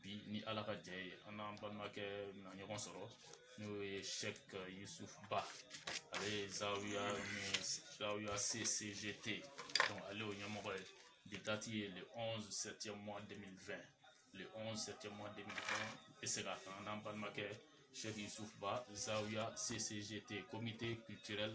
bi ni ala ka jɛ ye an n'an balimakɛ na ɲɔgɔn sɔrɔ n'o ye sɛki yusufu ba ale ye zawiya ni zawiya ccgt ale y'o ɲɛmɔgɔ ye bi dati ye le 11 septième mois 2020 le 11 septième mois 2020 bɛ se ka kan n'an balimakɛ sɛki yusufu ba zawiya ccgt comité culturel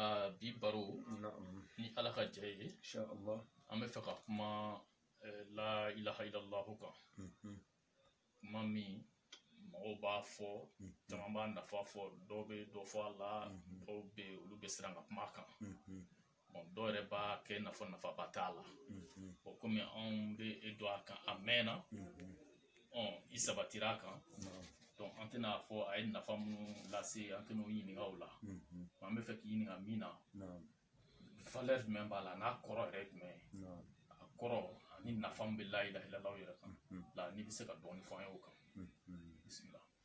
aa bi baro na'am ni ala ka jɛ ye insha Allah an bɛ fɛ ka kuma eh, la ilaha illallahu kan Mhm. kuma min mɔgɔw b'a fɔ caman b'a nafa fɔ dɔw bɛ dɔ fɔ a la dɔw bɛ yen olu bɛ siran ka kuma a kan Mhm. Bon, dɔw yɛrɛ b'a kɛ nafa nafaba t'a la Mhm. bon komi anw bɛ e dɔn a kan a mɛnna Mhm. i sabatira a kan donc an tɛna a fɔ a ye nafa minnu lase an tɛna o ɲininka o la an bɛ fɛ k'i ɲininka min na valeur jumɛn b'a la n'a kɔrɔ yɛrɛ jumɛn a kɔrɔ ani nafa min bɛ la ilaha illallahu yɛrɛ kan la n'i bɛ se ka dɔɔnin fɔ an ye o kan bisimila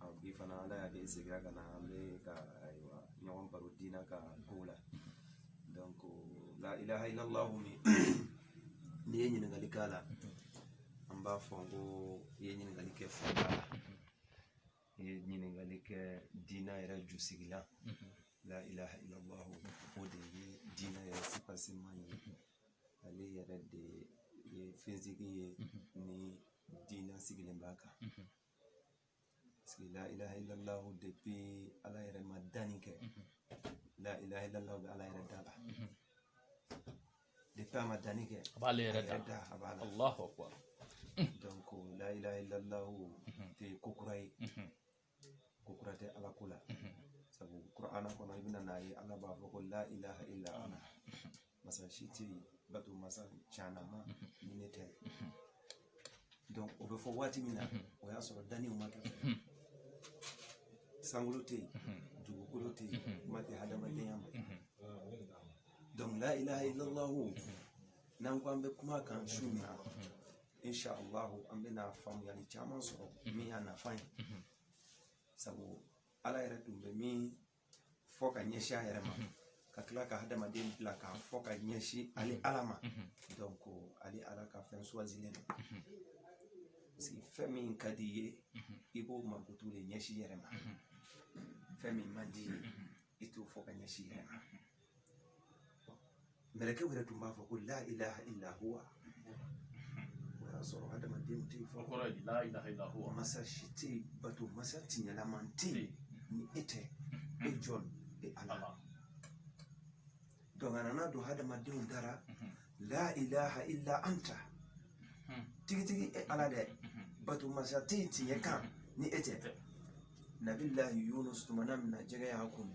A bi fana ala y'a kɛ segira ka na an bɛ ka ayiwa ɲɔgɔn baro diina ka ko la donc la ilaha illallahu min n'i ye ɲininkali k'a la an b'a fɔ n ko i ye ɲininkali kɛ fɛnba la i ye ɲininkali kɛ diina yɛrɛ ju sigi la la ilaha illallahu o de ye diina yɛrɛ soubassement ye ale yɛrɛ de ye fɛnsigi ye ni diina sigilen b'a kan la ilaha illallah depuis ala yɛrɛ ma danni kɛ la ilaha illallah bɛ ala yɛrɛ da la depuis a ma danni kɛ a b'ale yɛrɛ da a b'a la allahu akbar donc la ilaha illallah tɛ ko kura ye ko kura tɛ ala ko la sabu kur'ana kɔnɔ i bɛna n'a ye ala b'a fɔ ko la ilaha illa ana masa si tɛ yen bato masa caanama ni ne tɛ o bɛ fɔ waati min na o y'a sɔrɔ danni ma kɛ sankolo tɛ yen dugukolo tɛ yen kuma tɛ hadamadenya ma donc la ilaha illallahu n'an ko an bɛ kuma a kan su nin na insha allahu an bɛna faamuyali caman sɔrɔ min y'a nafa ye sabu ala yɛrɛ tun bɛ min fɔ ka ɲɛsin a yɛrɛ ma ka tila ka hadamaden bila k'a fɔ ka ɲɛsin ale ala ma donc ale ala ka fɛn suwazilen don parce que fɛn min ka di i ye i b'o mankutu de ɲɛsin i yɛrɛ ma fɛn min man di i ye i t'o fɔ ka ɲɛsin i yɛrɛ ma mɛlɛkɛ yɛrɛ tun b'a fɔ ko la ilaha illa huwa o y'a sɔrɔ hadamadenw tɛ fɔ kɔrɔ ye la ilaha illa huwa masa si tɛ bato masa tiɲɛlaman tɛ yen ni e tɛ e jɔn e ala donc a nana don hadamadenw da la la ilaha illa anta tigitigi e ala dɛ bato masa tɛ yen tiɲɛ kan ni e tɛ nabilahi yunus tumana min na jɛgɛ y'a kunu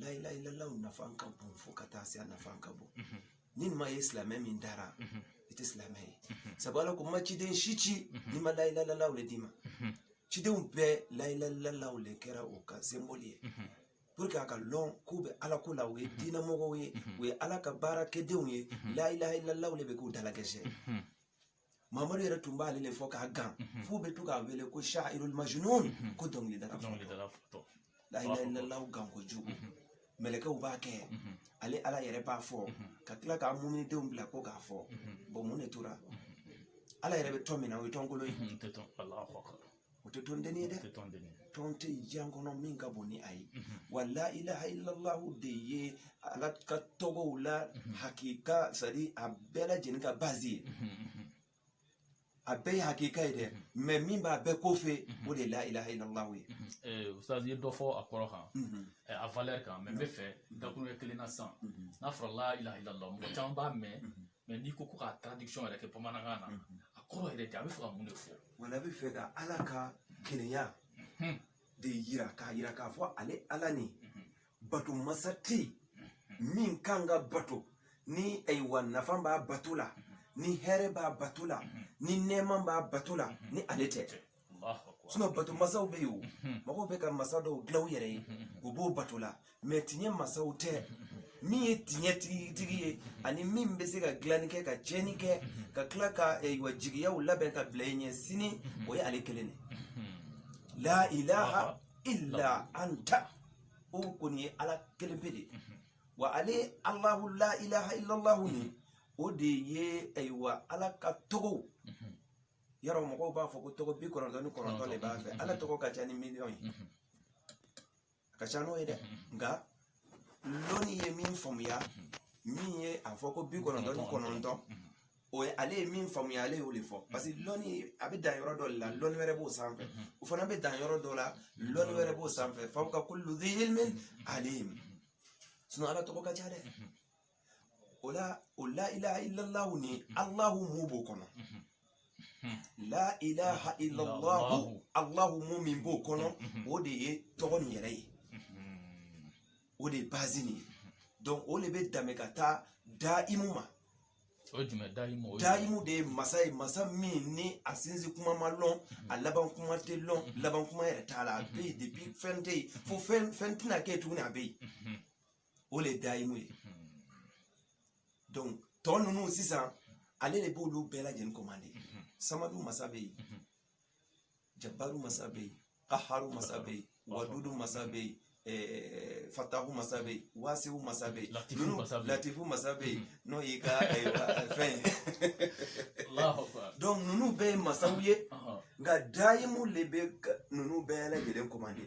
la ilaha illallah nafa ka bon fo ka taa se a nafa ka bon n'i m'a ye silamɛ min da la i tɛ silamɛ ye sabu ala ko n ma ciden si ci ni n ma la ilaha illallah de d'i ma cidenw bɛɛ la ilaha illallah de kɛra o ka semboli ye pour que a ka lɔn k'u bɛ ala ko la u ye diinɛmɔgɔw ye u ye ala ka baarakɛdenw ye la ilaha illallah de bɛ k'u dalakɛsɛ mamadu yɛrɛ tun b'ale de fɔ k'a gan mhm. f'u bɛ to k'a wele ko shairul majnun mhm. ko dɔnkilidala fatɔ la ilaha illallah gan kojugu mhm. mɛlɛkɛw b'a kɛ ale ala yɛrɛ b'a fɔ ka tila k'a muminidenw bila ko k'a fɔ bon mun de tora ala yɛrɛ bɛ tɔn min na o ye tɔnkolo ye o tɛ tɔnden ye dɛ tɔn tɛ diɲɛ kɔnɔ min ka bon ni a ye mhm. wa la ilaha illallahu de ye ala ka tɔgɔw la mhm. hakika c'est-à-dire a bɛɛ lajɛlen ka base ye mhm, a bɛɛ ye hakika ye dɛ mais min b'a bɛɛ kɔfɛ o de ye la ilaha illallahu ye eh, ustaz ye dɔ fɔ a kɔrɔ kan eh, a valeur kan mais n bɛ fɛ dakuruɲɛ kelen na sisan n'a fɔra la ilaha illallah mɔgɔ caman b'a mɛn mais n'i ko ko ka traduction yɛrɛ kɛ bamanankan na mhm. a kɔrɔ yɛrɛ tɛ a bɛ fɛ ka mun de fɔ voilà a bɛ fɛ ka ala ka kelenya mhm. de yira k'a yira k'a fɔ ale ala nin mhm. bato masa tɛ min kan ka bato ni ayiwa nafa b'a bato la ni hɛrɛ b'a bato la ni nɛɛma b'a bato la ni ale tɛ bato masaw bɛ yen o mɔgɔw bɛ ka masa dɔw dila u yɛrɛ ye u b'o bato la mais tiɲɛ masaw tɛ min ye tiɲɛ tigitigi ye ani min bɛ se ka dilanni kɛ ka tiɲɛni kɛ ka tila ka ayiwa jigiyaw labɛn ka bila i ɲɛ sini o ye ale kelen de la ilaha illa anta o kɔni ye ala kelen pe de wa ale alahu la ilaha illallahu nin o de ye ayiwa eh, ala ka tɔgɔw yɔrɔ mɔgɔw b'a fɔ ko tɔgɔ bi kɔnɔntɔn ni kɔnɔntɔn de b'a fɛ ala tɔgɔ ka ca ni miliyɔn ye a ka ca n'o ye dɛ nka lɔnni ye min faamuya min ye a fɔ ko bi kɔnɔntɔn ni kɔnɔntɔn o ye ale ye min faamuya ale y'o de fɔ parce que lɔnni a bɛ dan yɔrɔ dɔ de la lɔnni wɛrɛ b'o sanfɛ o fana bɛ dan yɔrɔ dɔ la lɔnni wɛrɛ b'o sanfɛ fawqa kulli zi ilmin alim sinon ala tɔgɔ ka ca dɛ o la o la ilaha illallahu ni allahu min b'o kɔnɔ la ilaha illallahu allahu m'o min b'o kɔnɔ o de ye tɔgɔ nin yɛrɛ ye o de ye bazi nin ye donc o de bɛ daminɛ ka taa daimu ma o ye jumɛn dayimu o ye daimu de ye masa ye masa min ni a sinzi kuma ma lɔn a laban kuma tɛ lɔn laban kuma yɛrɛ t'a la a bɛ yen depuis fɛn tɛ yen fo fɛn fɛn tɛna kɛ yen tuguni a bɛ yen o le daimu ye donc tɔ ninnu sisan ale de b'olu bɛɛ lajɛlen kɔmande samadu masa bɛ yen jabaru masa bɛ yen kaharu masa bɛ yen wadudu masa bɛ yen Eh, fatahu masa bɛ yen wasiwu masa bɛ yen latifu masa bɛ yen n'o y'i ka eh, eh, fɛn donc ninnu bɛɛ ye masaw ye nka dayimu de bɛ ninnu bɛɛ lajɛlen commandé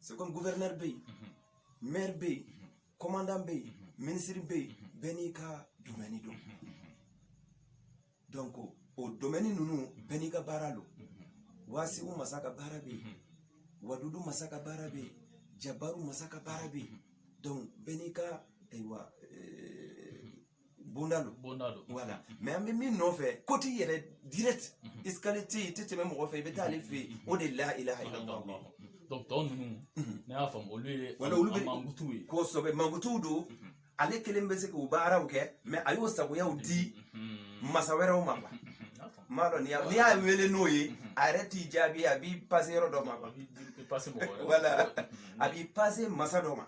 c'est comme gouverneur bɛ yen maire bɛ yen commandant bɛ yen ministre bɛ yen bɛɛ n'i ka domaine don donc o domaine ninnu bɛɛ n'i ka baara don wasiwu masa ka baara bɛ yen wadudu masa ka baara bɛ yen jabaru masa ka baara bɛ yen donc bɛɛ n'i ka ayiwa bonda don bonda don voilà mais an bɛ min nɔfɛ koti yɛrɛ direct escalier tɛ yen i tɛ tɛmɛ mɔgɔ fɛ i bɛ taa ale fɛ yen o de la ilaha illallah donc tɔ ninnu ne y'a faamu olu ye voilà olu bɛ mankutuw ye kosɛbɛ mankutuw don ale kelen bɛ se k'u baaraw kɛ mais a y'o sagoyaw di masa wɛrɛw ma quoi m'a dɔn n'i y'a wele n'o ye a yɛrɛ t'i jaabi a b'i pase yɔrɔ dɔ ma quoi wala a b'i pase masa dɔ ma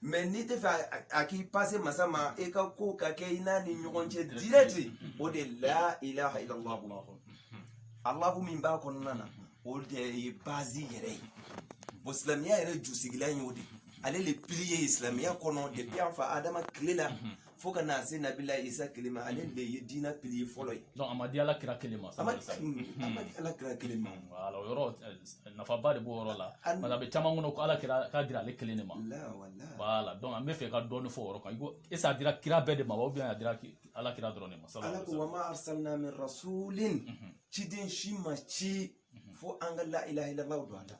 mais n'i tɛ fɛ a k'i pase masa ma e ka ko ka kɛ i n'a ni ɲɔgɔn cɛ direct o de la ilaha illallah allahu min b'a kɔnɔna na o de ye bazi yɛrɛ ye bon silamɛya yɛrɛ jusigilan y'o de ale le pilier ye silamɛya kɔnɔ depuis an fa adama tile la fo ka na se nabila isa kelen ma ale de ye diinɛ pilier fɔlɔ ye donc a ma di ala kira kelen ma a ma di ala kira kelen ma voilà o yɔrɔ eh, nafaba de b'o yɔrɔ la parce que a bɛ caman kɔnɔ ko ala kira k'a dira ale kelen de ma voilà donc an bɛ fɛ ka dɔɔni fɔ o yɔrɔ kan i ko est-ce a dira kira bɛɛ de ma wa ou bien a dira ala kira dɔrɔn de ma ala ko wa ma arsalina min rasulin ciden si ma ci fo an ka la ilaha illallahu don an ta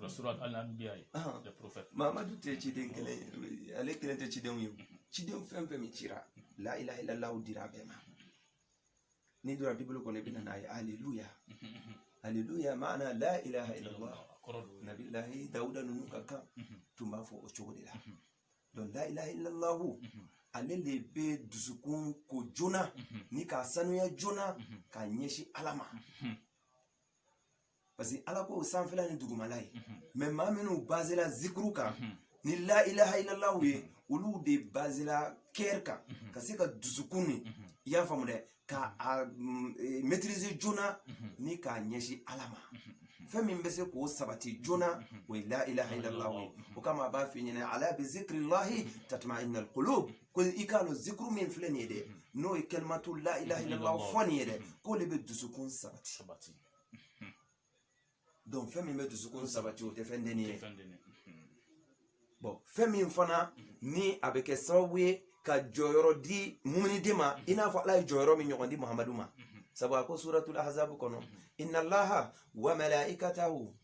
mamadu tɛ ciden kelen ale kelen tɛ cidenw ye ciden fɛn fɛn min cira la ilaha illallahu dira bɛɛ ma n'i donna bibulu kɔnɔ i bɛna a ye aleluya aleluya maana la ilaha illallahu nabilahi dawuda ninnu ka kan tun b'a fɔ o cogo de la donc la ilaha illallahu ale de bɛ dusukun ko joona ni k'a sanuya joona k'a ɲɛsin ala ma parce que ala ko sanfɛla ni dugumala ye mais maa minnu bazela zikuru kan ni la ilaha illallahu ye olu de bazela cœur kan ka se ka dusukun ni i y'a faamu dɛ ka a mm, e, maîtriser joona ni k'a ɲɛsin ala ma fɛn min bɛ se k'o sabati joona o ye la ilaha illallahu ye o kama a b'a f'i ɲɛna ala bi zikrillahi tatmainal qulub ko i k'a dɔn zikuru min filɛ nin ye dɛ n'o ye kalimatu la ilaha illallah fɔ nin ye dɛ k'o de bɛ dusukun sabati donc fɛn min bɛ dusukun sabati o tɛ fɛn dennin ye bon fɛn min fana ni a bɛ kɛ sababu ye ka jɔyɔrɔ di muminiden ma i n'a fɔ ala ye jɔyɔrɔ min ɲɔgɔn di muhamadu ma sabu a ko suratul ahzabu kɔnɔ inna allaha wa malaikatahu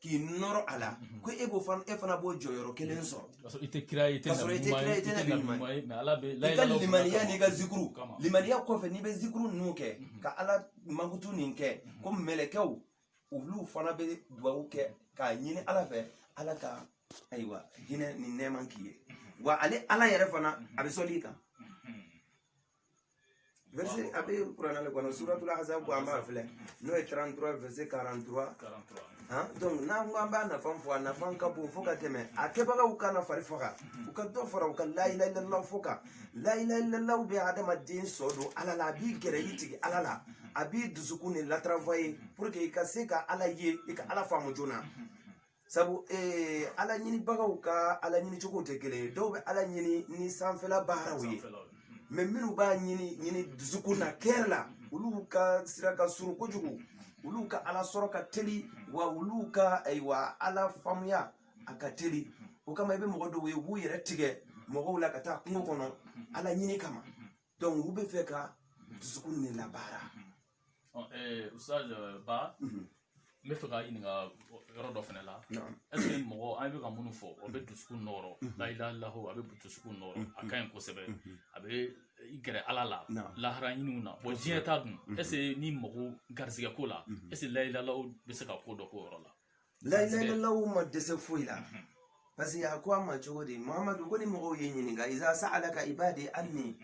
k'i nɔrɔ a la mhm. ko e b'o fana e fana b'o jɔyɔrɔ kelen mhm. sɔrɔ k'a sɔrɔ i tɛ kira ye i tɛ nabi ɲuman ye i tɛ nabi ɲuman ye i ka limaniya n'i ka zikuru limaniya kɔfɛ n'i bɛ zikuru ninnu kɛ mhm. ka ala mankutu nin kɛ ko mɛlɛkɛw olu fana bɛ duwawu kɛ k'a ɲini ala fɛ ala ka ayiwa hinɛ ni nɛɛma k'i ye wa ale ala yɛrɛ fana a bɛ sɔli i kan verset a bɛ kuranɛ de kɔnɔ suratul ahzab ko an b'a filɛ n'o ye 33 verset 43 han donc n'an ko an b'a nafan fɔ a nafan ka bon fo ka tɛmɛ a kɛbagaw kana fari faga u ka dɔ fara u ka la ilaha illallah fɔ kan la ilaha illallah bɛ adamaden sɔn don ala la a b'i gɛrɛ i tigi ala la a b'i dusukun de latravailler pour que i ka se ka ala ye i ka ala faamu joona sabu ee ala ɲinibagaw ka ala ɲini cogo tɛ kelen ye dɔw bɛ ala ɲini ni sanfɛla baaraw ye maa minnu b'a ɲini ɲini dusukun na cœur la olu ka sira ka surun kojugu olu ka ala sɔrɔ ka teli wa olu ka ayiwa ala faamuya a ka teli o kama i bɛ mɔgɔ dɔw ye u b'u yɛrɛ tigɛ mɔgɔw la ka taa kungo kɔnɔ ala ɲini kama donc u bɛ fɛ ka dusukun ne labaara ustaz ba n bɛ fɛ ka ɲininka yɔrɔ dɔ fana la est-ce que mɔgɔ an bɛ ka minnu fɔ o bɛ dusukun nɔɔrɔ la ilaha illallah a bɛ dusukun nɔɔrɔ a ka ɲi kosɛbɛ a b'i gɛrɛ ala la lahara ɲiniw na bon diɲɛ ta dun est-ce que ni mɔgɔ garisɛgɛ ko la est-ce que la ilaha illallah bɛ se ka ko dɔ k'o yɔrɔ la la ilaha illallah ma dɛsɛ foyi la parce que a ko a ma cogo di mamadu ko ni mɔgɔw y'i ɲininka iza sa'alaka ibadi anni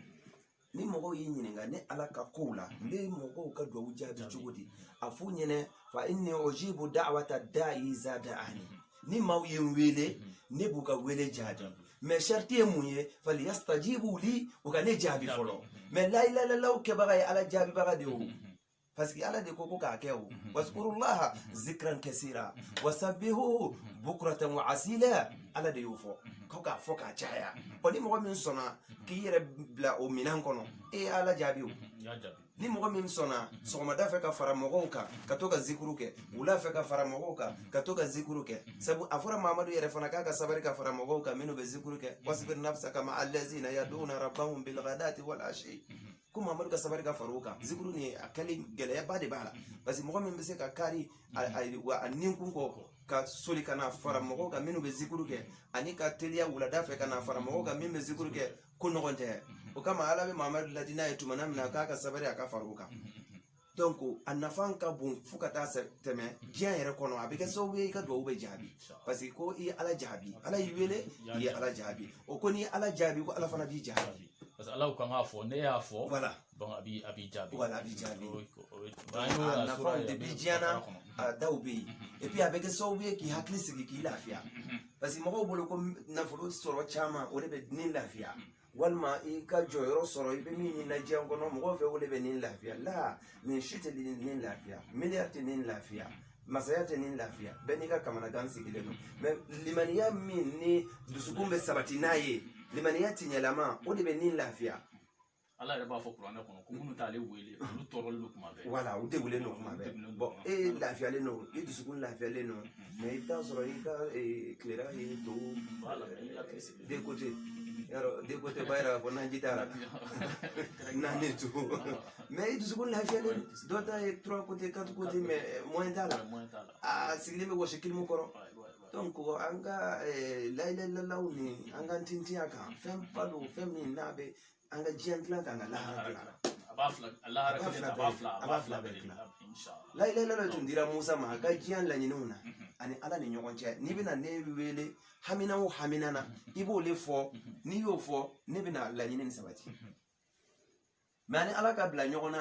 ni mɔgɔw y'i ɲininka ne ala ka kow la n bɛ mɔgɔw ka duwawu jaabi cogo di a f'u ɲɛna fa inni ujibu da'wata da'i iza da'ani ni maaw ye n wele ne b'u ka wele jaabi mais sariti ye mun ye falyastajibu li u ka ne jaabi fɔlɔ mais la ilaha illallah kɛbaga ye ala jaabibaga de ye o parce que ala de ko ko k'a kɛ o waskurullaha zikran kasira wasabihuhu bukuratan wa asila ala de y'o fɔ ko k'a fɔ k'a caya ɔ ni mɔgɔ min sɔnna k'i yɛrɛ bila o minɛn kɔnɔ e ye ala jaabi o ni mɔgɔ min sɔnna sɔgɔmada fɛ ka fara mɔgɔw kan ka to ka zikuru kɛ wula fɛ ka fara mɔgɔw kan ka to ka zikuru kɛ sabu a fɔra mamadu yɛrɛ fana k'a ka sabari ka fara mɔgɔw kan minnu bɛ zikuru kɛ wasbir nafsaka ma allazina yaduna rabbahum bilghadati wal ashi ko mamadu ka sabari ka far'u kan zikuru nin a kɛli gɛlɛyaba de b'a la parce que mɔgɔ min bɛ se ka kari a ninkun kɔ ka soli ka na fara mɔgɔw kan minnu bɛ zikuru kɛ ani ka teliya wulada fɛ ka na fara mɔgɔw kan min bɛ zikuru kɛ ko nɔgɔn tɛ o kama ala bɛ mamadu laadi n'a ye tuma min na k'a ka sabari a ka far'u kan donc a nafan ka bon fo ka taa tɛmɛ diɲɛ yɛrɛ kɔnɔ a bɛ kɛ sababu ye i ka dugawu bɛ jaabi parce que ko i ye ala jaabi ala y'i wele i ye ala jaabi o ko n'i ye ala jaabi ko ala fana b'i jaabi parce que ala kan k'a fɔ ne y'a fɔ voilà donc a b'i a b'i jaabi voilà a b'i jaabi a nafaw de bɛ diɲɛ na a dɔw bɛ yen et puis a bɛ kɛ sababu ye k'i hakili sigi k'i lafiya parce que mɔgɔw bolo ko nafolo sɔrɔ caman o de bɛ ni lafiya walima i ka jɔyɔrɔ sɔrɔ i bɛ min ɲini na diɲɛ kɔnɔ mɔgɔw fɛ o de bɛ nin lafiya la nin si tɛ nin lafiya miliyari tɛ nin lafiya masaya tɛ nin lafiya bɛɛ n'i ka kamanagan sigilen don mais limaniya min n'i dusukun bɛ sabati n'a ye limaniya tiɲɛlama o de bɛ nin lafiya ala yɛrɛ b'a fɔ kuranɛ kɔnɔ ko minnu t'ale wele olu tɔɔrɔlen don tuma bɛɛ wala u degulen don tuma bɛɛ bon e lafiyalen don i dusukun lafiyalen don mais i bɛ taa sɔrɔ i ka tilera ye to deux côtés yɔrɔ deux côtés ba yɛrɛ b'a fɔ n'an ji taara n'an ne to mais i dusukun lafiyalen dɔ ta ye trois côtés quatre côtés mais moyen t'a la a sigilen bɛ wɔsi kilimu kɔrɔ donc an ka layilayilalaw nin an ka tintin a kan fɛnba don fɛn min n'a bɛ an ka diɲɛ dilan k'an ka lahara dilan a b'a fila a lahara kelen a b'a fila a b'a fila bɛɛ dilan layilayilala tun dira musa ma a ka diɲɛ laɲiniw na a ni ala ni ɲɔgɔn cɛ n'i bɛna ne wele hamina o hamina na i b'o le fɔ n'i y'o fɔ ne bɛna laɲini nin sabati mais a ni ala ka bila ɲɔgɔn na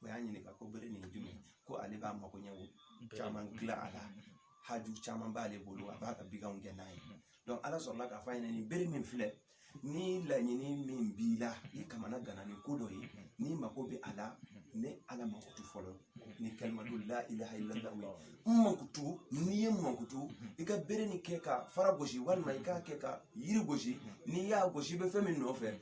o y'a ɲininka ko bere nin ye jumɛn ko ale b'a mago ɲɛ caman dilan a la haju caman b'ale bolo a b'a ka baganw gɛn n'a ye donc ala sɔrɔla k'a fɔ a ɲɛna nin bere min filɛ ni laɲini min b'i la i kamanaganna ni ko dɔ ye n'i mako bɛ a la ne ala mankutu fɔlɔ ni kalimatu la ilaha illallah n mankutu n'i ye n mankutu i ka bere nin kɛ ka fara gosi walima i k'a kɛ ka yiri gosi n'i y'a gosi i bɛ fɛn min nɔfɛ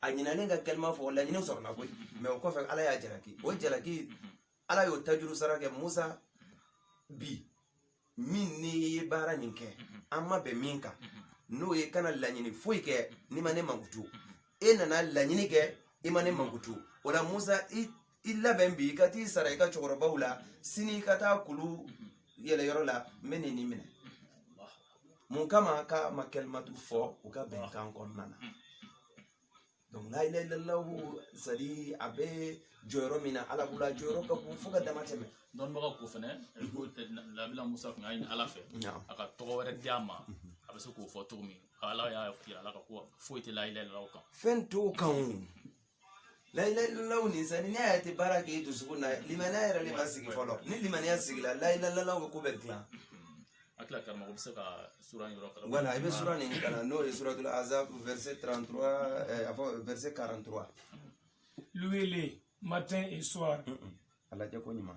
a ɲinalen ka kalima fɔ laɲini sɔrɔla koyi mais o kɔfɛ ala y'a jalaki o jalaki ala y'o tajuru sara kɛ musa bi min n'i ye baara nin kɛ an ma bɛn min kan n'o ye kana laɲini foyi kɛ n'i ma ne mankutu e nana laɲini kɛ i ma ne mankutu o la musa i i labɛn bi i ka t'i sara i ka cɛkɔrɔbaw la sini i ka taa kulu yɛlɛyɔrɔ la n bɛ nin nin minɛ mun kama k'a ma kalimatu fɔ u ka bɛnkan kɔnɔna na donc la ilaha illallah c'est à dire a bɛ jɔyɔrɔ min na ala bolo a jɔyɔrɔ ka bon fo ka dama tɛmɛ dɔnnibagaw ko fɛnɛ ko nabila musa tun y'a ɲini ala fɛ a ka tɔgɔ wɛrɛ di a ma a bɛ se k'o fɔ cogo min ala y'a f'a ye ala ka ko foyi tɛ la ilaha illallah kan fɛn t'o kan o La ilaha illallah nin sani n'i y'a ye a tɛ baara kɛ i dusukun na limaniya yɛrɛ de ma sigi fɔlɔ ni limaniya sigila la ilaha illallah bɛ ko bɛɛ dilan a tila karamɔgɔ bɛ se ka sura in yɔrɔ kalan wala i bɛ sura nin kalan n'o ye suratul ahzab verset 33 eh, a fɔ verset 43 Louez-le matin et soir. a lajɛ ko ɲuman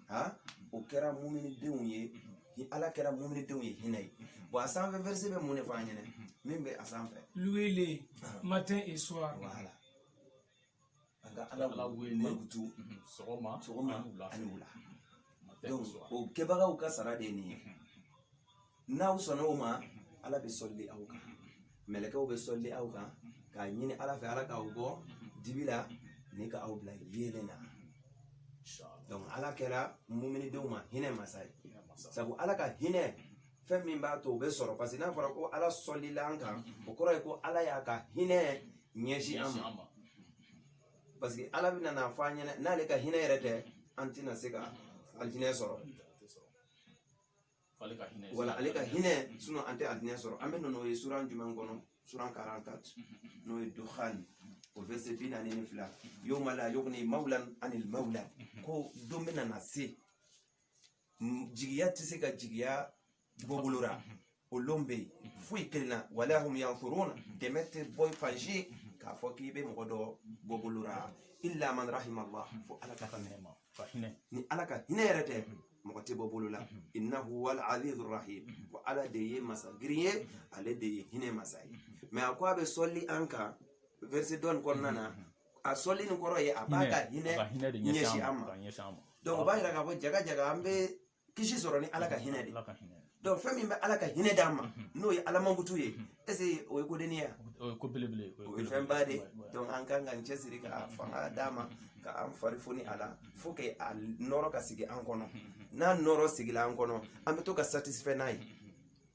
ha o kɛra muminidenw ye ni ala kɛra muminidenw ye hinɛ ye bon a sanfɛ verset bɛ mun de fɔ an ɲɛna min bɛ a sanfɛ louez-le matin et soir wala an ka ala wele mankutu sɔgɔma sɔgɔma ani wula donc o kɛbagaw ka sara de ye nin ye n'aw sɔnna o ma ala bɛ sɔli aw kan mɛlɛkɛw bɛ sɔli aw kan k'a ɲini ala fɛ ala k'aw bɔ dibi la ni ka aw bila yeelen na donc ala kɛra muminidenw ma hinɛ masa ye sabu ala ka hinɛ fɛn min b'a to o bɛ sɔrɔ parce que n'a fɔra ko ala sɔlila an kan o kɔrɔ ye ko ala y'a ka hinɛ ɲɛsin an ma parce que ala bɛna n'a fɔ an ɲɛna n'ale ka hinɛ yɛrɛ tɛ an tɛna se ka alijinɛ sɔrɔ wala ale ka hinɛ sinon an tɛ alijinɛ sɔrɔ an bɛna o ye sura jumɛn kɔnɔ sura 44 n'o ye duhan a verset bi naani ni fila yawma la yughni mawlan an mawlan ko don bɛna na se jigiya tɛ se ka jigiya bɔ bolo la o lon bɛ yen foyi kelen na wala hum yunsarun dɛmɛ tɛ bɔ fan si k'a fɔ k'i bɛ mɔgɔ dɔ bɔ bolo la illa man rahima allah fo ala ka ka minɛ ma ka hinɛ ni ala ka hinɛ yɛrɛ tɛ mɔgɔ tɛ bɔ bolo la innahu huwal azizu rahim ko ala de ye masa girin ye ale de ye hinɛ masa ye mais a ko a bɛ sɔli an kan verset dɔ nin kɔnɔna na a sɔli nin kɔrɔ ye a b'a ka hinɛ ɲɛsin an ma donc o b'a yira k'a fɔ jaga jaga an bɛ kisi sɔrɔ ni ala ka hinɛ de donc fɛn min bɛ ala ka hinɛ d'an ma mhm. n'o ye ala mankutu ye mhm. est-ce o ye ko denin ye wa o ye fɛn ba de donc an kan k'an cɛsiri ka mhm. fanga d'a ma ka an farifoni a la faut que a nɔɔrɔ ka sigi an kɔnɔ n'a nɔɔrɔ sigila an kɔnɔ an bɛ to ka satisfait n'a ye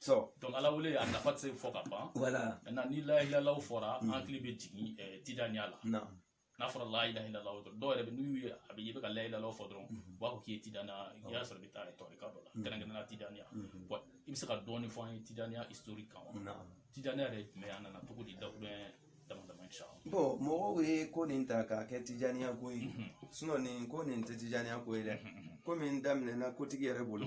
dɔnku ala wele a nafa tɛ se fɔ ka ban mɛ ni lahilalaw fɔra an hakili bɛ jigin tijaniya la n'a fɔra lahilalaw dɔrɔn dɔw yɛrɛ bɛ n'u ye a mɛn i bɛ ka lahilalaw fɔ dɔrɔn u b'a fɔ k'i ye tijaniya i y'a sɔrɔ i bɛ taa tarika dɔ la kɛrɛnkɛrɛnnenya tijaniya i bɛ se ka dɔɔni fɔ an ye tijaniya isitori kan tijaniya yɛrɛ jumɛn a nana cogo di dakurun dama dama sabu mɔgɔw ye ko nin ta k'a kɛ tijaniya ko ye sinɔn nin ko nin tɛ tijaniya ko ye dɛ ko min daminɛna kotigi yɛrɛ bolo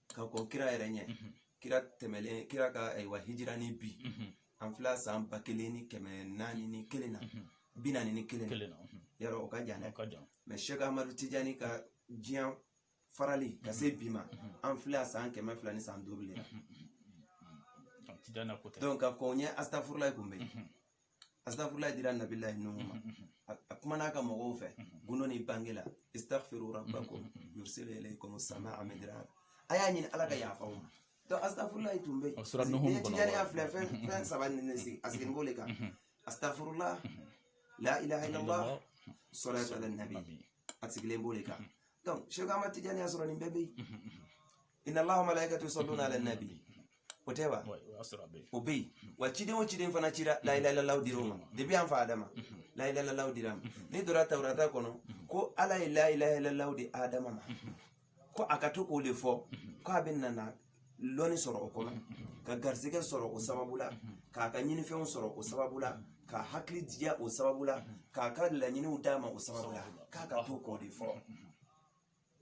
ka kɔn kira yɛrɛ ɲɛ kira tɛmɛlen kira ka ayiwa hijira ni bi an filɛ san ba kelen ni kɛmɛ naani ni kelen na bi naani ni kelen na yɔrɔ o ka jan dɛ mɛ sɛk amadu tijani ka diɲɛ farali ka se bi ma an filɛ san kɛmɛ fila ni san duuru de la donc ka kɔn ɲɛ asitafurulayi tun bɛ yen asitafurulayi dira nabilayi nuhu ma a kumana a ka mɔgɔw fɛ gundo ni bange la istaghfiru rabbakum yursilu alaykum samaa midrara a y'a ɲini ala ka yafa aw ma donc asitafurulayi tun bɛ yen tijaniya filɛ fɛn fɛn saba nin de sigi a sigilen b'o de kan asitafurula la ilaha illallah salatu ala nabi a sigilen b'o de kan donc sɛk amadu tijani y'a sɔrɔ nin bɛɛ bɛ yen inna allaha wa malaikatu yusalluna ala nabi o tɛ wa o bɛ yen wa ciden o ciden fana cira layilalalaw dira o ma depuis an fa adama layilalalaw dira a ma n'i donna tawurata kɔnɔ ko ala ye layilalalaw di adama ma ko a ka to k'o de fɔ ko a bɛ nana lɔni sɔrɔ o kɔnɔ ka garisɛgɛ sɔrɔ o sababu la k'a ka ɲinifɛnw sɔrɔ o sababu la k'a hakili diya o sababu la k'a ka laɲiniw d'a ma o sababu la k'a ka to k'o de fɔ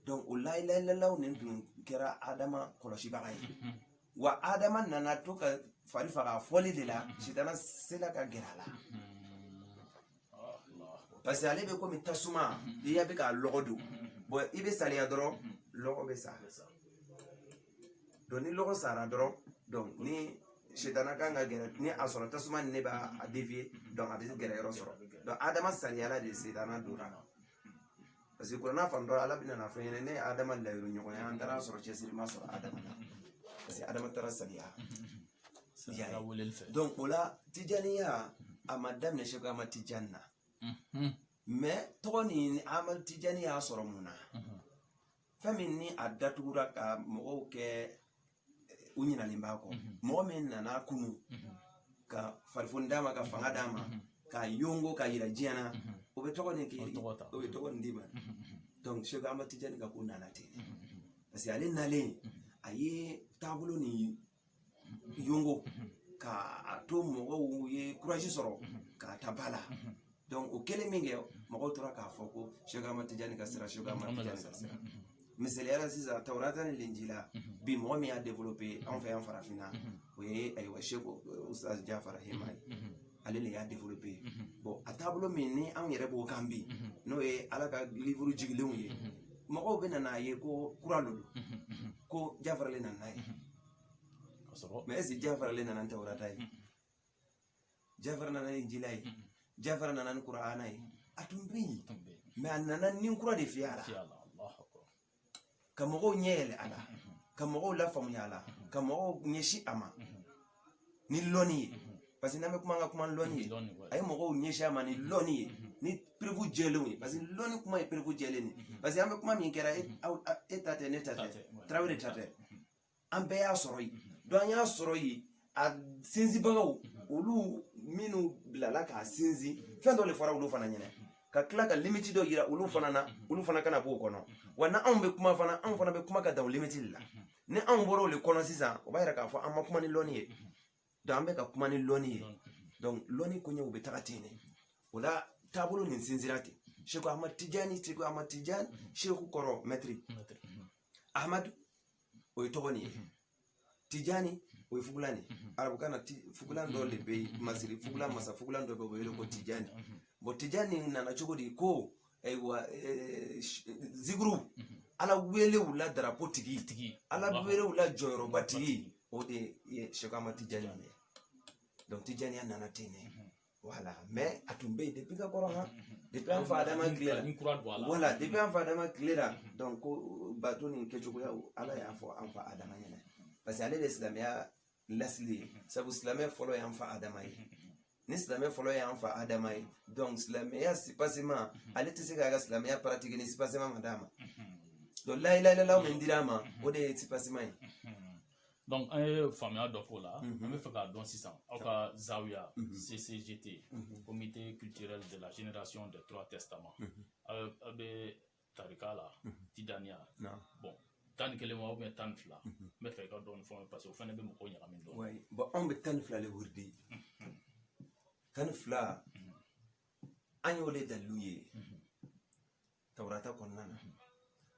donc o layilayilalaw nin tun kɛra adama kɔlɔsibaga ye wa adama nana to k'a fari faga fɔli de la sitana sela ka gɛrɛ a la parce que ale bɛ komi tasuma e bɛ ka lɔgɔ don bɔn i bɛ saliya dɔrɔn lɔgɔ bɛ sa donc ni lɔgɔ sara dɔrɔn donc ni sitana ka kan ka gɛrɛ n'a y'a sɔrɔ tasuma nin de b'a devier donc a bɛ gɛrɛ yɔrɔ sɔrɔ donc adama saliyala de sitana donna Parce que kuranɛ fan dɔ rɔ ala bɛna na a fɔ an ɲɛna ne ni adama layiru ɲɔgɔn ye an taara sɔrɔ cɛsiri ma sɔrɔ adama la parce que adama taara saliya donc o la tijaniya a ma daminɛ sɛku amadu tijani na mɛ tɔgɔ nin amadu tijani y'a sɔrɔ mun na fɛn min ni a datugura ka mɔgɔw kɛ u ɲinalen b'a kɔ mhm. mɔgɔ min nana a kunun mhm. ka farifoni d'a ma ka fanga d'a ma mhm. k'a yongo k'a yira diɲɛ na o bɛ tɔgɔ nin k'i o bɛ tɔgɔ nin d'i ma donc sɛku amadu tijani ka ko nana ten parce que ale nalen a ye taabolo ni yongo ka a to mɔgɔw ye kuraji sɔrɔ k'a ta ba la o kɛlen min kɛ mɔgɔw tora k'a fɔ ko seku ahmad tijani ka sira seku ahmad tijani ka sira misali la sisan tawurata ni lenjila bi mɔgɔ min y'a developpe anw fɛ yan farafinna o ye ayiwa seku ustaz jafara hema ye ale de y'a developpe bɔn a taabolo min ni anw yɛrɛ b'o kan bi n'o ye ala ka livuru jigilenw ye mɔgɔw bɛ na n'a ye ko kura le lo ko jafara le nana n'a ye mɛ est-ce jafara le nana tawurata ye jafara nana ni lenjila ye jafara nana ni kur'ana ye a tun bɛ yen mɛ a nana ni kura de fiyɛ a la ka mɔgɔw ɲɛ yɛlɛ a la ka mɔgɔw lafaamuya a la ka mɔgɔw ɲɛsin a ma ni lɔnni ye parce que n'an bɛ kuma an ka kuma lɔnni ye a ye mɔgɔw ɲɛsin a ma ni lɔnni ye ni perewu jɛlenw ye parce que lɔnni kuma ye perewu jɛlen de parce que an bɛ kuma min kɛra e ta tɛ ne ta tɛ tarawele ta tɛ an bɛɛ y'a sɔrɔ yen donc an y'a sɔrɔ yen a sinsinbagaw olu minnu bilala k'a sinsin fɛn dɔ le fɔra olu fana ɲɛna ka tila ka limiti dɔ yira olu fana na olu fana kana b'o kɔnɔ wa n'anw bɛ kuma fana anw fana bɛ kuma ka dan o limiti le la ni anw bɔra o le kɔnɔ sisan o b'a yira k'a fɔ an ma kuma ni lɔnni ye dɔnku an bɛ ka kuma ni lɔni ye dɔnku lɔni koɲɛw bɛ taga ten de o la taabolo nin sinsinna ten seku ahmad tijani seku ahmad tijani seku kɔrɔ mɛtiri ahmad o ye tɔgɔ nin ye tijani o ye fugulan de arabukan na fugulan dɔ de bɛ masiri fugulan masa fugulan dɔ bɛ o wele ko tijani bɔn tijani nana cogo di ko ayiwa zikiru ala wele o la darapo tigi tigi ala wele o la jɔyɔrɔba tigi o de ye seku ahmad tijani ye donc tijaniya nana ten ne wala mɛ a tun bɛ yen depuis ka kɔrɔ han depuis an fa adama tile la wala depuis an fa adama tile la donc ko bato nin kɛcogoyaw ala y'a fɔ an fa adama ɲɛna parce que ale de silamɛya lasili ye sabu silamɛ fɔlɔ y'an fa adama ye ni silamɛ fɔlɔ y'an fa adama ye donc silamɛya soubassement ale tɛ se k'a ka silamɛya pratiquer ni soubassement ma d'a ma donc layilayilalaw min dira a ma o de ye soubassement ye donc an ye faamuya dɔ k'o la an bɛ fɛ k'a dɔn sisan aw ka zawiya ccgt comité culturel de la génération des trois testaments aw bɛ tarika la tijaniya bɔn tan ni kelen wa ou bien tan ni fila n bɛ fɛ i ka dɔɔni fɔ parce que o fana bɛ mɔgɔw ɲagami dɔn bɔn anw bɛ tan ni fila de wurudi tan ni fila an y'o de dalilu ye tawurata kɔnɔna na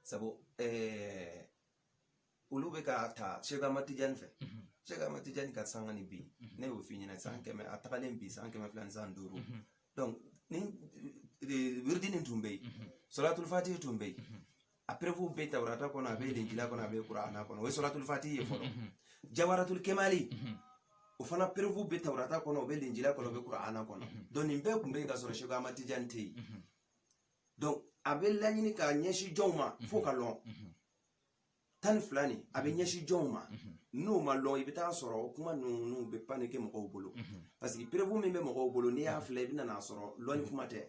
sabu ɛɛ olu bɛ k'a ta sekama tijani fɛ sekama tijani ka sanga ni bi ne y'o f'i ɲɛna san kɛmɛ a tagalen bi san kɛmɛ fila ni san duuru ni wiridi nin tun bɛ yen sɔlatulufati tun bɛ yen a perefu bɛ tawarata kɔnɔ a bɛ lenjila kɔnɔ a bɛ kurana kɔnɔ o ye sɔlatulufati ye fɔlɔ jawaratul kemali o fana perefu bɛ tawarata kɔnɔ o bɛ lenjila kɔnɔ o bɛ kurana kɔnɔ donc nin bɛɛ tun bɛ yen ka sɔrɔ sekama tijani tɛ yen donc a bɛ laɲini k'a ɲɛsin jɔnw ma fo k'a lɔn tan ni fila nin a bɛ ɲɛsin jɔnw ma n'u m'a lɔn i bɛ taa sɔrɔ o kuma ninnu bɛ panne kɛ mɔgɔw bolo parce que perefu min bɛ mɔgɔw bolo n'i y'a filɛ i bɛ nan'a sɔrɔ lɔnni kuma tɛ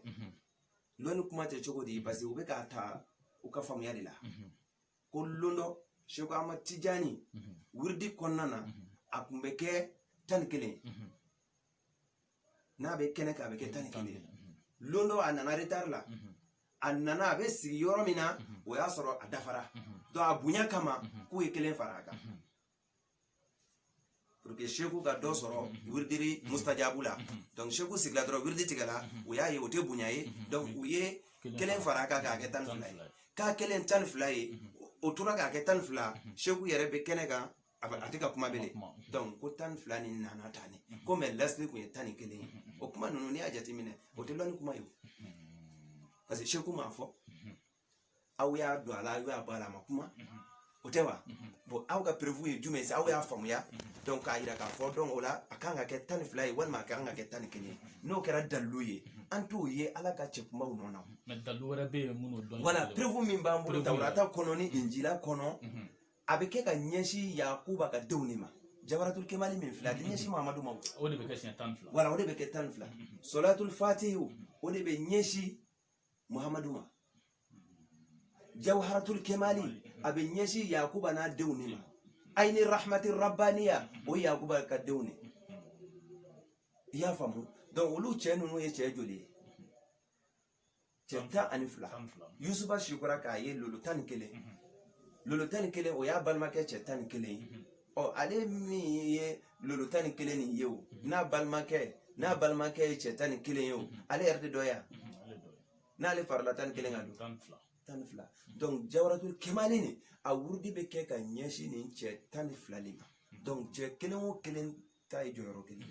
lɔnni kuma tɛ cogo di parce que u bɛ k'a ta u ka faamuya de la ko lon dɔ seku ama tijani wiridi kɔnɔna na a tun bɛ kɛ tan ni kelen n'a bɛ kɛnɛ kan a bɛ kɛ tan ni kelen don dɔ a nana retari la a nana a bɛ sigi yɔrɔ min na o y'a sɔrɔ a dafara donc a bonya kama k'u ye kelen fara a kan pour que seku ka dɔ sɔrɔ wiridi mustajabu la donc seku sigila dɔrɔn wiridi tigɛla u y'a ye o tɛ bonya ye donc u ye kelen fara a kan k'a kɛ tan ni fila ye k'a kɛlen tan ni fila ye o tora k'a kɛ tan ni fila seku yɛrɛ bɛ kɛnɛ kan a tɛ ka kuma bɛ dɔn ko tan ni fila nin nana tan ni comme lasili tun ye tan ni kelen ye o kuma ninnu n'i y'a jateminɛ o tɛ lɔnni kuma ye parce que seku m'a fɔ aw y'a don a la aw y'a bɔ a la a ma kuma o tɛ wa bɔn aw ka perefu ye jumɛn ye aw y'a faamuya dɔn k'a yira k'a fɔ dɔn o la a kan ka kɛ tan ni fila ye walima a kan ka kɛ tan ni kelen ye n'o kɛra dalilu ye an t'o ye ala ka cɛ kumaw nɔ na wala perefu min b'an bolo tawarata kɔnɔ ni injila kɔnɔ a bɛ kɛ ka ɲɛsin yakuba ka denw de ma jawaratul kemali min filɛ a tɛ ɲɛsin mamadu ma o de bɛ kɛ siɲɛ tan ni fila wala o de bɛ kɛ tan ni fila solatul fatihu o de bɛ ɲɛsin muhamadu ma jawharatul kemali a bɛ ɲɛsin yakuba n'a denw de ma ayini rahmati rabbaniya o ye yakuba ka denw de i y'a faamu donc olu cɛ ninnu ye cɛ joli ye cɛ tan ani fila yusufu sikora k'a ye lolo tan ni kelen lolo tan ni kelen o y'a balimakɛ cɛ tan ni kelen ye ɔ ale min ye lolo tan ni kelen nin ye o n'a balimakɛ n'a balimakɛ ye cɛ tan ni kelen ye o ale yɛrɛ de dɔ yan n'ale farala tan ni kelen kan donc tan ni fila donc jawaratul kemali nin a wurudi bɛ kɛ ka ɲɛsin nin cɛ tan ni fila de ma donc cɛ kelen o kelen ta ye jɔyɔrɔ kelen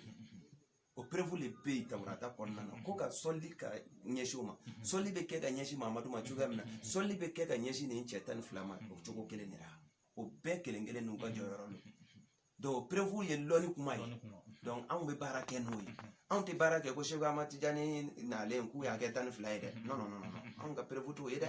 o perefu de bɛ yen tawarata kɔnɔna na ko ka sɔli ka ɲɛsin u ma sɔli bɛ kɛ ka ɲɛsin mamadu ma cogoya min na sɔli bɛ kɛ ka ɲɛsin nin cɛ tan ni fila ma o cogo kelen de la o bɛɛ kelen kelen n'u ka jɔyɔrɔ don donc perefu ye lɔnni kuma ye donc anw bɛ baara kɛ n'o ye anw tɛ baara kɛ ko seku ama tijani nalen k'u y'a kɛ tan ni fila ye dɛ non non non anw ka perefu t'o ye dɛ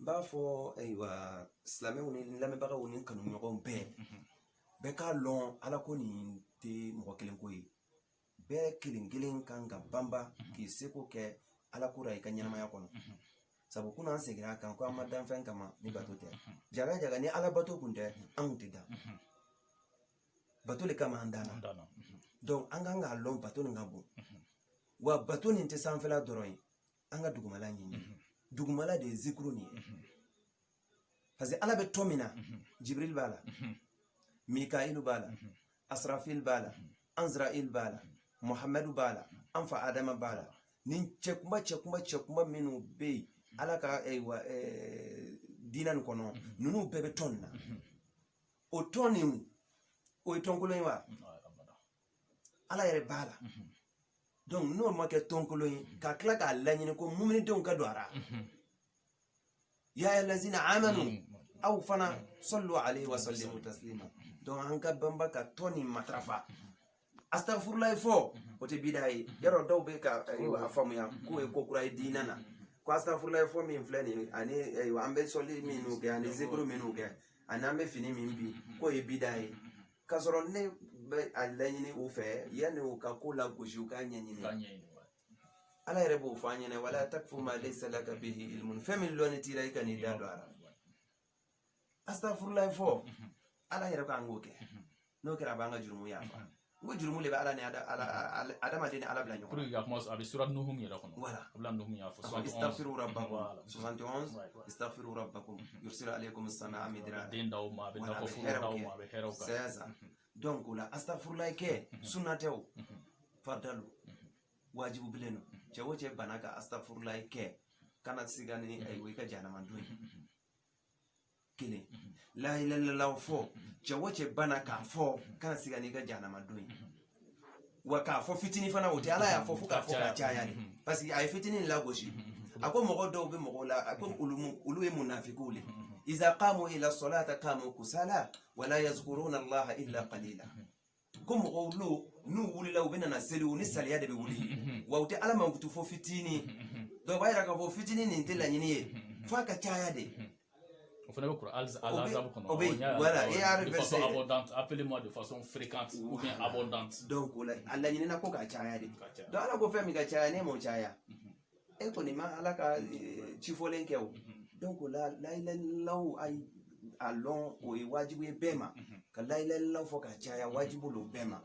n b'a fɔ ayiwa silamɛw ni lamɛnbagaw ni kanuɲɔgɔn bɛɛ bɛɛ k'a lɔn ala ko nin tɛ mɔgɔ kelen ko ye bɛɛ kelen kelen kan ka banba k'i seko kɛ ala ko la i ka ɲɛnamaya kɔnɔ sabu kunun an seginna a kan ko an ma dan fɛn kama ni bato tɛ jaga jaga ni ala bato kun tɛ an kun tɛ dan bato le kama an danna donc an kan k'a lɔn bato nin ka bon wa bato nin tɛ sanfɛla dɔrɔn ye an ka dugumala ɲini dugumala de ye zikuru nin ye parce que ala bɛ tɔn min na jibril b'a la mikail b'a la asrafil b'a la anzrail b'a la muhamadu b'a la an fa adama b'a la nin cɛkunba cɛkunba cɛkunba minnu bɛ yen ala ka ayiwa eh, eh, diinɛ nin kɔnɔ ninnu bɛɛ bɛ tɔn nin na o tɔn nin o ye tɔnkolon ye wa ala yɛrɛ b'a la donc n'o ma kɛ tɔnkolon ye ka tila k'a laɲini ko muminidenw ka don a ra ya lazina amanu aw fana sallu alaihi wa sallimu taslima donc an ka banba ka tɔn ni matarafa astagfirulayi fɔ o tɛ bida ye yɔrɔ dɔw bɛ ka a faamuya k'o ye ko kura ye diinɛ na ko astagfirulayi fɔ min filɛ nin ye ani an bɛ sɔli minnu kɛ ani zikuru minnu kɛ ani an bɛ fini min bi k'o ye bida ye k'a sɔrɔ ne bɛ a laɲini u fɛ yanni u ka ko lagosi u k'a ɲɛɲini ala yɛrɛ b'o fɔ an ɲɛna wala takfu ma laysa laka bihi ilmun fɛn min lɔnni t'i la i kan'i da don a la astafurulayi fɔ ala yɛrɛ k'an k'o kɛ n'o kɛra a b'an ka jurumu yafa n ko jurumu de bɛ ala ni adamaden ni ala bila ɲɔgɔn na a bɛ sura nuhum yɛrɛ kɔnɔ wala a bɛ nuhum y'a fɔ istaghfiru rabbakum 71 istaghfiru rabbakum yursil alaikum sama midrara den d'aw ma a bɛ nakɔ foro d'aw ma a bɛ hɛrɛw ka caya sa donc o la astafurulayi kɛ sunna tɛ o farida lo wajibu bilen lo cɛ o cɛ bana ka astafurulayi kɛ kana siga ni ayiwa i ka jahanama don ye kelen layilalalaw fɔ cɛ o cɛ bana k'a fɔ kana siga n'i ka jahanama don ye wa k'a fɔ fitinin fana o tɛ ala y'a fɔ fo k'a fɔ ka caya de parce que a ye fitinin lagosi a ko mɔgɔ dɔw bɛ mɔgɔw la a ko olu mu- olu ye munafikiw le iza qamu ila salata qamu kusala wala yazkuruna allaha illa qalila ko mɔgɔw lo n'u wulila u bɛna na seli u ni salaya de bɛ wuli wa u tɛ ala mankutu fo fitinin donc o b'a yira k'a fɔ fitinin nin tɛ laɲini ye f'a ka caya de o fana bɛ sura al ahzab kɔnɔ o bɛ yen wala e y'a de façon abondante appelez moi de façon fréquente ou bien abondante donc o la a laɲinina ko ka caya de donc ala ko fɛn min ka caya n'e m'o caya e kɔni ma ala ka ci fɔlen kɛ o donc o la layilalilaw a y'a lɔn o ye wajibu ye bɛɛ ma ka layilalilaw fɔ ka caya wajibu lo bɛɛ ma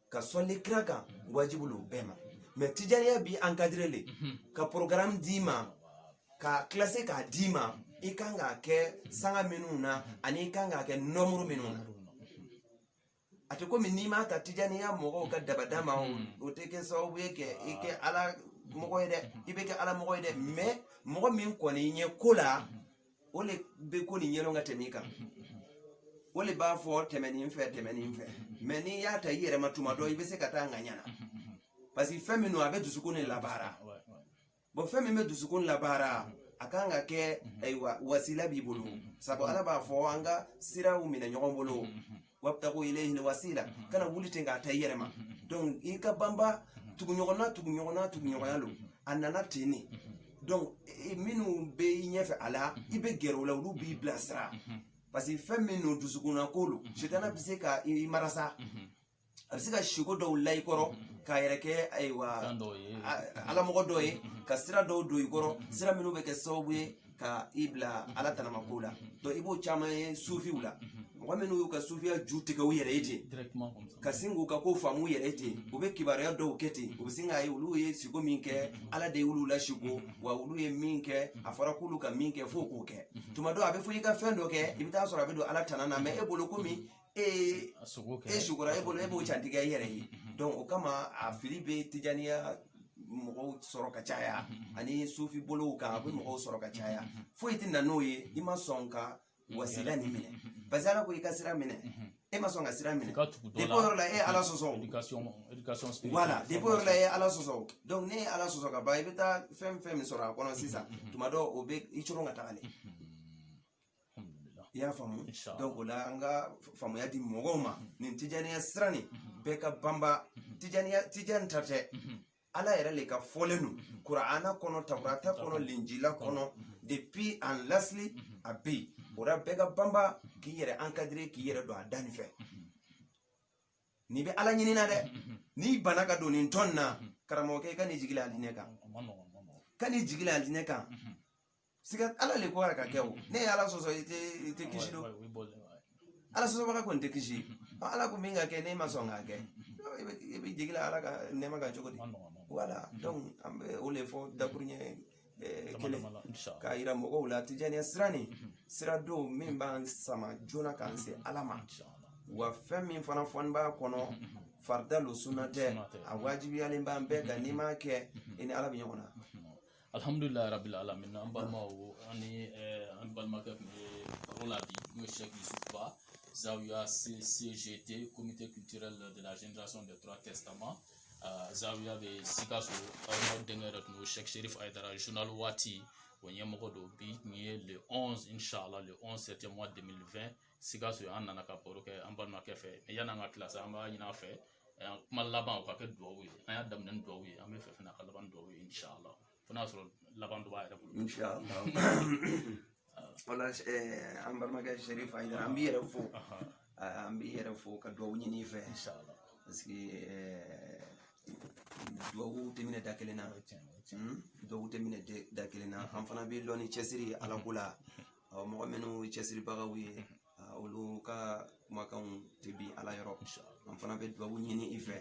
ka sɔli kira kan wajibu lo bɛɛ ma mɛ tijaniya b'i encadre le ka programme d'i ma k'a classer k'a d'i ma i kan k'a kɛ sanga minnu na ani i kan k'a kɛ nɔmuru minnu na a tɛ komi n'i m'a ta tijaniya mɔgɔw ka dabada ma o tɛ kɛ sababu ye ka i kɛ ala mɔgɔ ye dɛ i bɛ kɛ ala mɔgɔ ye dɛ mɛ mɔgɔ min kɔni i ɲɛ ko la o le bɛ ko nin yɛlɛn ka tɛmɛ i kan o le b'a fɔ tɛmɛnin fɛ tɛmɛnin fɛ mɛ n'i y'a ta i yɛrɛ ma tuma dɔ i bɛ se ka taa ŋaɲa na parce que fɛn min don a bɛ dusukun de labaara bon fɛn min bɛ dusukun labaara a kan ka kɛ ayiwa wasila b'i bolo sabu ala b'a fɔ an ka siraw minɛ ɲɔgɔn bolo wabtagu ilayhi wasila mhm. kana wuli ten k'a ta i yɛrɛ ma mhm, mhm. donc i ka banba tuguɲɔgɔnna tuguɲɔgɔnna tuguɲɔgɔnya lo a nana ten ne donc minnu bɛ i ɲɛfɛ a la i bɛ gɛrɛ o la olu b'i bilasira parce que fɛn min no dusukunna ko lo sitana bɛ se ka i marasa a bɛ se ka siko dɔw la i kɔrɔ k'a yɛrɛ kɛ ayiwa alamɔgɔ dɔ ye ka sira dɔw don i kɔrɔ sira minnu bɛ kɛ sababu ye ka i bila ala tanamakow la donc i b'o caman ye sufiw la mɔgɔ minnu y'u ka sufiya ju tigɛ u yɛrɛ ye ten directement comme ça ka sin k'u ka ko faamu u yɛrɛ ye ten u bɛ kibaruya dɔw kɛ ten u bɛ sin k'a ye olu ye siko min kɛ ala de y'olu lasiko wa olu ye min kɛ a fɔra k'olu ka min kɛ f'o k'o kɛ tuma dɔ a bɛ fɔ i ka fɛn dɔ kɛ i bɛ taa sɔrɔ a bɛ don ala tana na mɛ e bolo komi e sikora e bolo e b'o jatigɛ i yɛrɛ ye o kama a fili bɛ tijaniya mɔgɔw sɔrɔ ka caya ani sufi bolow kan a bɛ mɔgɔw sɔrɔ ka caya foyi tɛ na n'o ye i ma sɔn ka wasila nin minɛ parce que ala ko i ka sira minɛ e ma sɔn ka sira minɛ depuis o yɔrɔ la e y'ala sɔsɔ wala depuis o yɔrɔ la e y'ala sɔsɔ donc n'e ye ala sɔsɔ ka ban i bɛ taa fɛn fɛn min sɔrɔ a kɔnɔ sisan tuma dɔ o bɛ i coron ka taga le i y'a faamu donc o la an ka faamuya di mɔgɔw ma nin tijaniya sira nin bɛɛ ka banba tijaniya tijani ta tɛ ala yɛrɛ le ka fɔlen don kurana kɔnɔ taurata kɔnɔ linjila kɔnɔ depuis an lasili a bɛ yen o la bɛɛ ka banba k'i yɛrɛ encadre k'i yɛrɛ don a da nin fɛ n'i bɛ ala ɲinina dɛ n'i banna ka don nin tɔn na karamɔgɔkɛ i kan'i jigi la alijinɛ kan kan'i jigi la alijinɛ kan sika ala le ko a ka kɛ o n'e ye ala sɔsɔ i tɛ i tɛ kisi donc ala sɔsɔbaga kɔni tɛ kisi ɔ ala ko min ka kɛ n'e ma sɔn k'a kɛ i bɛ i b'i jigi la ala ka nɛɛma kan cogo di wala donc an bɛ o de fɔ dakuruɲɛ eh, kelen k'a yira mɔgɔw la tijaniya sira nin sira don min b'an sama joona k'an se ala ma wa fɛn min fana fɔnin b'a kɔnɔ farida lo sunna tɛ a wajibiyalen b'an bɛɛ kan n'i m'a kɛ i ni ala bɛ ɲɔgɔn na alihamudulila rabil alamin an balimaw an ni an balimakɛ tun bɛ baro la bi n'o ye sɛki yusufuba zawiya cgt comité culturel de la génération des trois testaments zawiya bɛ sikaso aw denkɛ yɛrɛ tun bɛ sɛki serif ayidara journal waati o ɲɛmɔgɔ don bi tun ye le 11 inshallah le 11 septième mois 2020 sikaso an nana ka baro kɛ an balimakɛ fɛ mais yan'an ka kilasi an b'a ɲini a fɛ kuma laban o ka kɛ dugawu ye an y'a daminɛ ni dugawu ye an b'a fɛ fana ka laban dugawu ye inshallah fo n'a sɔrɔ laban dɔ b'a yɛrɛ bolo inshallah wala an balimakɛ sɛrifu ah an b'i yɛrɛ fo an b'i yɛrɛ fo ka dugawu ɲini i fɛ inshallah parce que dubabu tɛ minɛ da kelen na hmm? dubabu tɛ minɛ da kelen na an fana b'i lɔn ni cɛsiri ye alako la mɔgɔ minnu ye cɛsiribagaw ye olu ka kumakanw tɛ bin ala yɔrɔ an fana bɛ dubabu ɲini i fɛ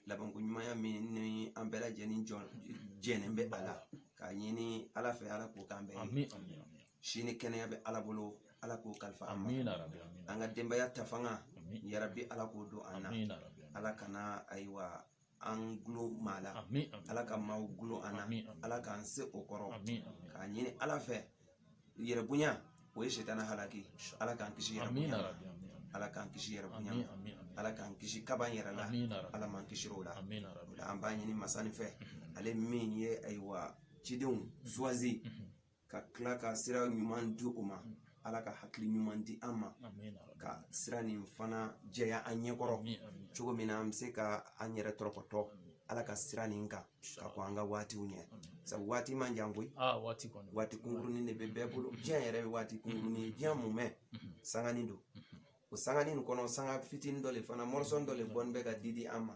labanko ɲumanya min ni an bɛɛ lajɛlen jɛnen bɛ a la k'a ɲini ala fɛ ala k'o k'an bɛɛ ye si ni kɛnɛya bɛ ala bolo ala k'o kalifa an ma an ka denbaya ta fanga yarabi ala k'o don an na ala kana ayiwa an dulon maa la ala ka maaw dulon an na ala k'an se o kɔrɔ k'a ɲini ala fɛ yɛrɛbonya o ye setana halaki ala k'an kisi yɛrɛbonya ala k'an kisi yɛrɛbonya ala k'an kisi kaba yɛrɛ la ala m'an kisir'o la an b'a ɲini masani fɛ ale min ye ayiwa cidenw choisi ka tila ka sira ɲuman di u ma ala ka hakili ɲuman di an ma ka sira nin fana jɛya an ɲɛkɔrɔ cogo min na an bɛ se ka an yɛrɛ tɔrɔkɔtɔ ala ka sira nin kan ka kɔn an ka waatiw ɲɛ sabu waati man jan koyi ah, waati kunkurunin de bɛ bɛɛ bolo diɲɛ yɛrɛ bɛ waati kunkurunin ye diɲɛ mumɛ sanganin don o sanganin nin kɔnɔ sanga fitinin dɔ le fana morceau dɔ le bɔnin bɛ ka di di an ma